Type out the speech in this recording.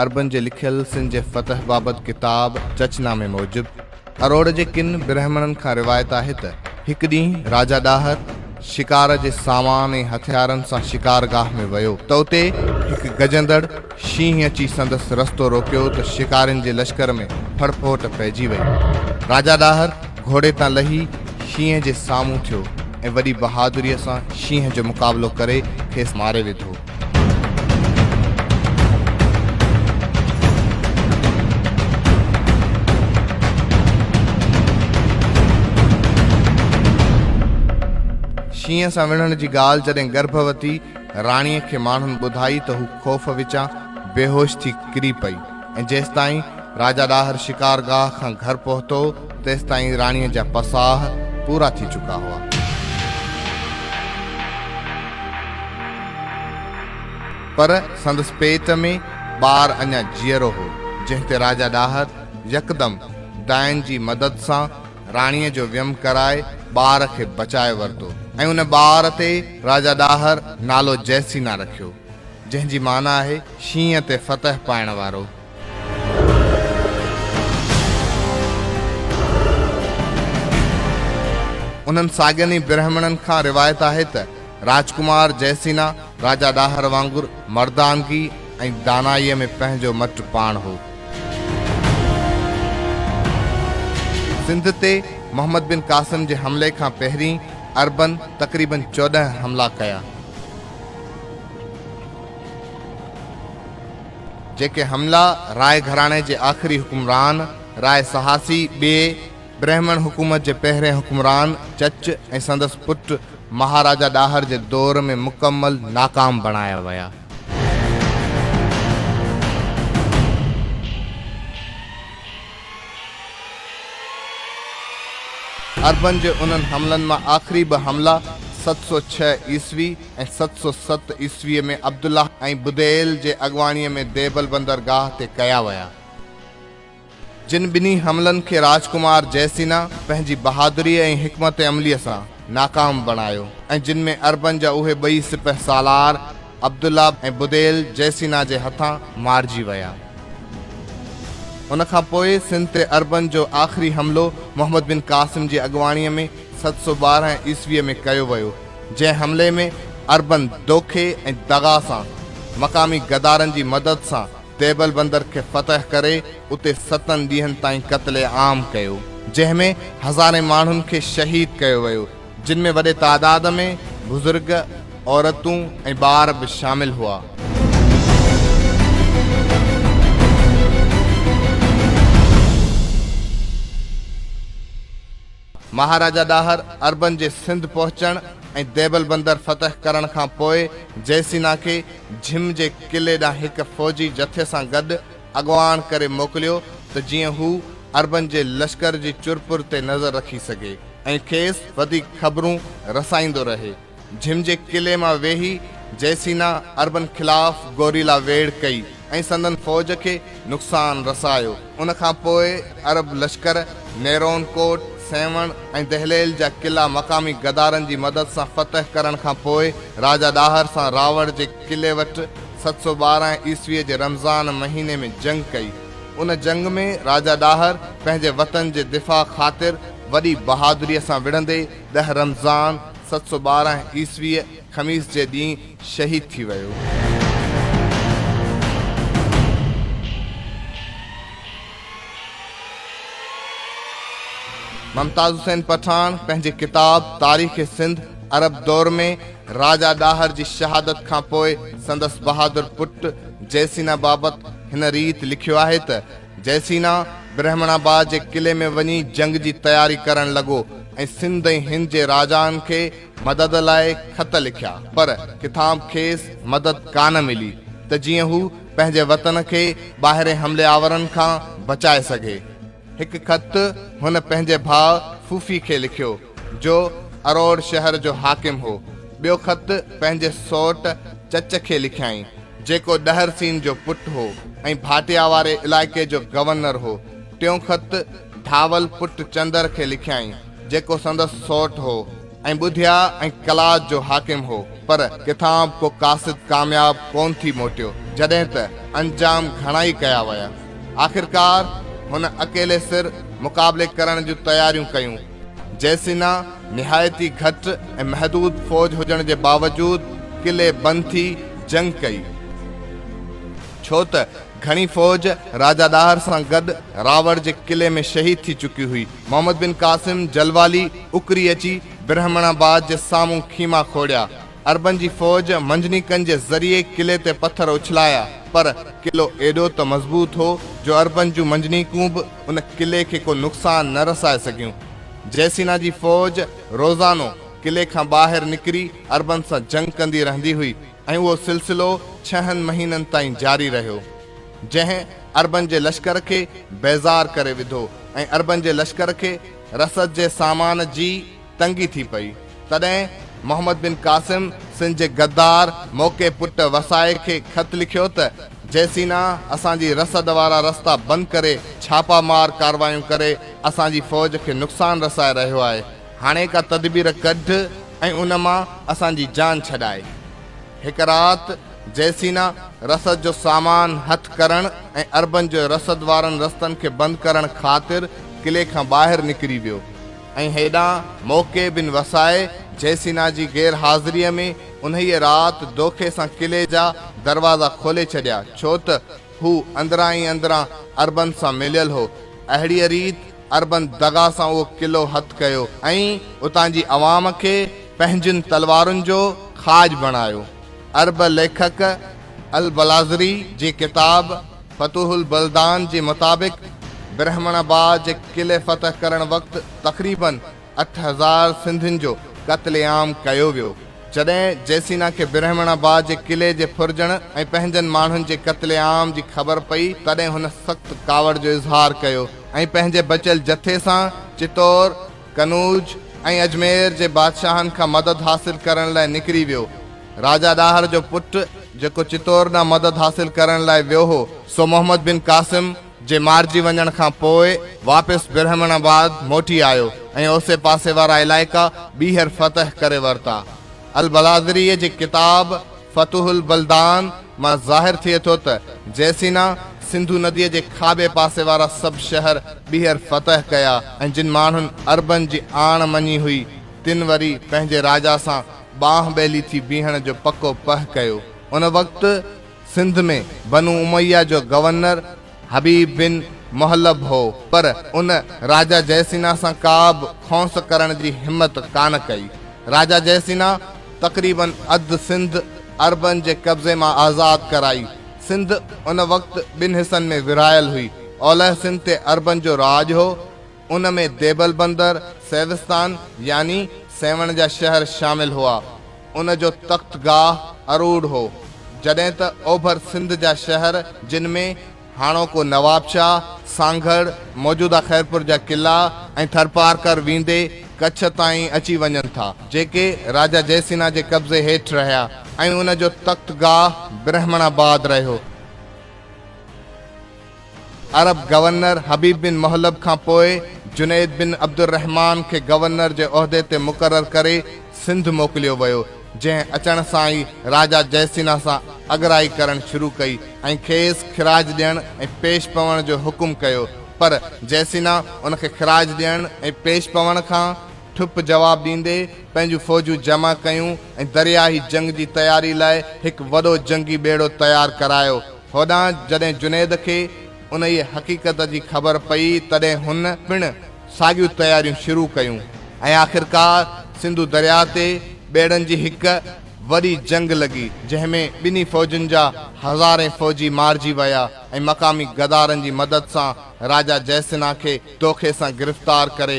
عربن جي لکيل سنڌ جي فتح بابت ڪتاب چچ نامي موجب، اروڙ جي ڪن برهمڻن کان روايت آهي ته هڪ ڏينهن راجا ڏاهر شڪار جي سامان ۽ هٿيارن سان شڪار گاهه ۾ ويو ته اتي هڪ گجندڙ شينهن اچي سندس رستو روڪيو ته شڪارين جي لشڪر ۾ ڦڙ ڦوٽ پئجي وئي. راجا ڏاهر گهوڙي تان لهي شينهن جي سامهون ٿيو ۽ وڏي بهادريء سان شينهن جو مقابلو ڪري کيس ماري وڌو. شينهن سان وڙهڻ جي ڳالهه جڏهن گرڀوتي راڻيء کي ماڻهن ٻڌائي ته هو خوف وچان بيهوش ٿي ڪري پئي ۽ جيستائين راجا ڏاهر شڪار گاهه کان گهر پهتو تيستائين راڻيء جا پساهه پورا ٿي چڪا هئا. پر سندس پيٽ ۾ ٻار اڃا جيئرو هو، جنهن تي راجا ڏاهر يڪدم ڊائن جي مدد سان راڻيء جو ويم ڪرائي ٻار کي بچائي ورتو ۽ ان ٻار تي راجا ڏاهر نالو جئسينا رکيو، جنهن جي معنيٰ آهي، شينهن تي فتح پائڻ وارو. انهن ساڳين ئي برهمڻن کان روايت آهي ته راجڪمار جئسينا راجا ڏاهر وانگر مردانگي ۽ دانائيء ۾ پنهنجو مٽ پاڻ هو. سنڌ تي محمد بن قاسم جي حملي کان پهرين عربن تقريبن چوڏهن حملا ڪيا. جيڪي حملا راء گهراڻي جي آخري حڪمران راء سهاسي ٻئي برهمڻ حڪومت جي پهرين حڪمران چچ ۽ سندس پٽ مهاراجا ڏاهر جي دور ۾ مڪمل ناڪام بڻايا ويا. عربن جي انهن حملن مان آخري ٻه حملا ست سؤ ڇهه عيسوي، ۽ ست سؤ ست عيسويء ۾ عبدالله ۽ بديل جي اڳواڻيء ۾ ديبل بندرگاهه تي ڪيا ويا. جن ٻنهي حملن کي راجڪمار جئه سينا پنهنجي بهادريء ۽ حڪمت عمليء سان ناڪام بڻايو ۽ جن ۾ عربن جا اهي ٻئي سپهه سالار عبدالله ۽ بديل جئه سينا جي هٿان مارجي ويا. ان کان پوء سنڌ تي عربن جو آخري حملو محمد بن قاسم جي اڳواڻيء ۾ ست سؤ ٻارهن عيسويء ۾ ڪيو ويو. جنهن حملي ۾ اربن دوکي ۽ دغا سان مقامي غدارن جي مدد سان ديبل بندر کي فتح ڪري اتي ستن ڏينهن تائين قتل عام ڪيو جنهن ۾ هزارين ماڻهن کي شهيد ڪيو ويو جن ۾ وڏي تعداد ۾ بزرگ عورتون ۽ ٻار به شامل هئا. مهاراجا ڏاهر عربن جي سنڌ پهچڻ ۽ ديبل بندر فتح ڪرڻ کان پوء جئي سينا کي جھم جي قلعي ڏانهن هڪ فوجي جٿي سان گڏ اڳواڻ ڪري موڪليو ته جيئن هو عربن جي لشڪر جي چرپر تي نظر رکي سگهي ۽ کيس وڌيڪ خبرون رسائيندو رهي. جھم جي قلعي مان ويھي جئسينا عربن خلاف گوريلا ويڙھ ڪئي ۽ سندن فوج کي نقصان رسايو. ان کان پوء عرب لشڪر نيرون ڪوٽ، سيوڻ ۽ دهليل جا قلعا مقامي غدارن جي مدد سان فتح ڪرڻ کان پوء راجا ڏاهر سان راوڙ جي قلعي وٽ ست سؤ ٻارهن عيسويء جي رمضان مهيني ۾ جنگ ڪئي. ان جنگ ۾ راجا ڏاهر پنهنجي وطن جي دفاع خاطر وڏي بهادريء سان وڙهندي ڏهه رمضان ست سؤ ٻارهن عيسويء خميس جي ڏينهن شهيد ٿي ويو. ممتاز حسين پٺاڻ پنهنجي ڪتاب تاريخ سنڌ عرب دور ۾ راجا ڏاهر جي شهادت کان پوء سندس بهادر پٽ جيسينا بابت هن ريت لکيو آهي ته، جئسينا برهمڻ آباد جي قلعي ۾ وڃي جنگ جي تياري ڪرڻ لڳو ۽ سنڌ ۽ هند جي راجائن کي مدد لاء خط لکيا پر ڪٿان کيس مدد ڪانه ملي ته جيئن هو پنهنجي وطن کي ٻاهرين حملي آورن کان بچائي سگهي. هڪ خط هن پنهنجي ڀاء ڦوڦي کي لکيو. جو اروڙ شهر جو حاڪم هو. ٻيو خط پنهنجي سئوٽ چچ کي لکيائين، جيڪو ڏهر سين جو پٽ هو ۽ ڀاٽيا واري علائقي جو گورنر هو. ٽيون خط ڌاول پٽ چندر کي لکيائين، جيڪو سندس سئوٽ هو ۽ ٻڌيا ۽ قلات جو حاڪم هو، پر ڪٿان به ڪو قاصد ڪامياب ڪونه ٿي موٽيو، جڏهن ته انجام گهڻائي ڪيا ويا. آخرڪار هن اڪيلي سر مقابلي ڪرڻ جون تياريون ڪيون. جئسينا نهايت ئي گهٽ ۽ محدود فوج هجڻ جي باوجود قلعي بند ٿي جنگ ڪئي، ڇو ته گهڻي فوج راجا ڏاهر سان گڏ راوڙ جي قلعي ۾ شهيد ٿي چڪي هئي. محمد بن قاسم جلوالي اڪري اچي برهمڻ آباد جي سامهون خيما کوڙيا. عربن جي فوج منجنيقن جي ذريعي قلعي تي پٿر اڇلايا، پر قلعو ايڏو ته مضبوط هو جو عربن جون منجنيقون به ان قلعي کي ڪو نقصان نه رسائي سگهيون. جيسينا جي فوج روزانو قلعي کان ٻاهر نڪري عربن سان جنگ ڪندي رهندي هئي ۽ اهو سلسلو ڇهن مهينن تائين جاري رهيو، جنهن عربن جي لشڪر کي بيزار ڪري وڌو ۽ عربن جي لشڪر کي رسد جي سامان جي تنگي ٿي پئي، تڏهن محمد بن قاسم سنڌ جي غدار موقعي پٽ وسائي کي خط لکيو ته جيسينا اسان جي رسد وارا رستا بند ڪري ڇاپا مار ڪاروايون ڪري اسان جي فوج کي نقصان رسائي رهيو آهي هاڻي ڪا تدبير ڪڍ ۽ ان مان اسان جي جان ڇڏائي. هڪ رات جيسينا رسد جو سامان هٿ ڪرڻ ۽ عربن جي رسد وارن رستن کي بند ڪرڻ خاطر قلعي کان ٻاهر نڪري ويو. ۽ هيڏانهن موقعي بن وسائي جيسينا جي غير حاضريء ۾ انهيء رات دوکي سان قلعي جا دروازا کولي ڇڏيا، ڇو ته هو اندران ئي اندران عربن سان مليل هو. اهڙيء ريت عربن دغا سان اهو قلعو هٿ ڪيو ۽ اتان جي عوام کي پنهنجين تلوارن جو کاڄ بڻايو. عرب ليکڪ البلاذري جي ڪتاب. فتوح البلدان جي مطابق برهمڻ آباد جي قلعي فتح ڪرڻ وقت تقريباً اٺ هزار سنڌين جو قتل عام ڪيو ويو، جڏهن جيسينا کي برهمڻ آباد جي قلعي جي ڦرجڻ ۽ پنهنجن ماڻهن جي قتل عام جي خبر پئي تڏهن هن سخت ڪاوڙ جو اظهار ڪيو ۽ پنهنجي بچيل جٿي سان چتور، قنوج ۽ اجمير جي بادشاهن کان مدد حاصل ڪرڻ لاء نڪري ويو. راجا ڏاهر جو پٽ جيڪو چتور ڏانهن مدد حاصل ڪرڻ لاء ويو هو، سو محمد بن قاسم جي مارجي وڃڻ کان پوء واپس برهمڻ آباد موٽي آيو ۽ اوسي پاسي وارا علائقا ٻيهر فتح ڪري ورتا. البلاذريء جي ڪتاب فتوح البلدان مان ظاهر ٿئي ٿو ته جئسينا سنڌو نديء جي کاٻي پاسي وارا سڀ شهر ٻيهر فتح ڪيا ۽ جن ماڻهن عربن جي آڻ مڃي هئي، تن وري پنهنجي راجا سان ٻانهن ٻيلي ٿي بيهڻ جو پڪو پهه ڪيو. ان وقت سنڌ ۾ بنو اميه جو گورنر حبيب بن محلب هو، پر ان راجا جئسينا سان ڪابه کونس ڪرڻ جي همت ڪانه ڪئي. راجا جئسينا تقريباً اڌ سنڌ عربن جي قبضي مان آزاد ڪرائي. سنڌ ان وقت ٻن حصن ۾ ورهايل هئي. اولهه سنڌ تي عربن جو راڄ هو. ان ۾ ديبل بندر، سيوستان يعني سيوهڻ جا شهر شامل هئا. ان جو تخت گاهه اروڙ هو. جڏهن ته اوڀر سنڌ جا شهر جن ۾ هاڻوڪو نوابشاهه، سانگهڙ، موجوده خيرپور جا قلعا ۽ ٿرپارڪر ويندي ڪڇ تائين اچي وڃن ٿا، جيڪي راجا جئه سينها جي قبضي هيٺ رهيا ۽ ان جو تخت گاهه برهمڻ آباد رهيو. عرب گورنر حبيب بن محلب کان پوء جنيد بن عبدالرحمان کي گورنر جي عهدي تي مقرر ڪري سنڌ موڪليو ويو، جنهن اچڻ سان ئي راجا جئه سينه سان اڳرائي ڪرڻ شروع ڪئي ۽ کيس خراج ڏيڻ ۽ پيش پوڻ جو حڪم ڪيو، پر جئه سينه ان کي خراج ڏيڻ ۽ پيش پوڻ کان ٺپ جواب ڏيندي پنهنجون فوجون جمع ڪيون ۽ درياهي جنگ جي تياري لاء هڪ وڏو جنگي ٻيڙو تيار ڪرايو. هوڏانهن جڏهن جنيد کي انهيء حقيقت جي خبر پئي، تڏهن هن پڻ ساڳيون تياريون شروع ڪيون ۽ آخرڪار سنڌو درياء تي ٻيڙن جي هڪ وڏي جنگ لڳي، جنهن ۾ ٻنهي فوجن جا هزارين فوجي مارجي ويا ۽ مقامي غدارن جي مدد سان راجا جئه سنها کي دوکي سان گرفتار ڪري،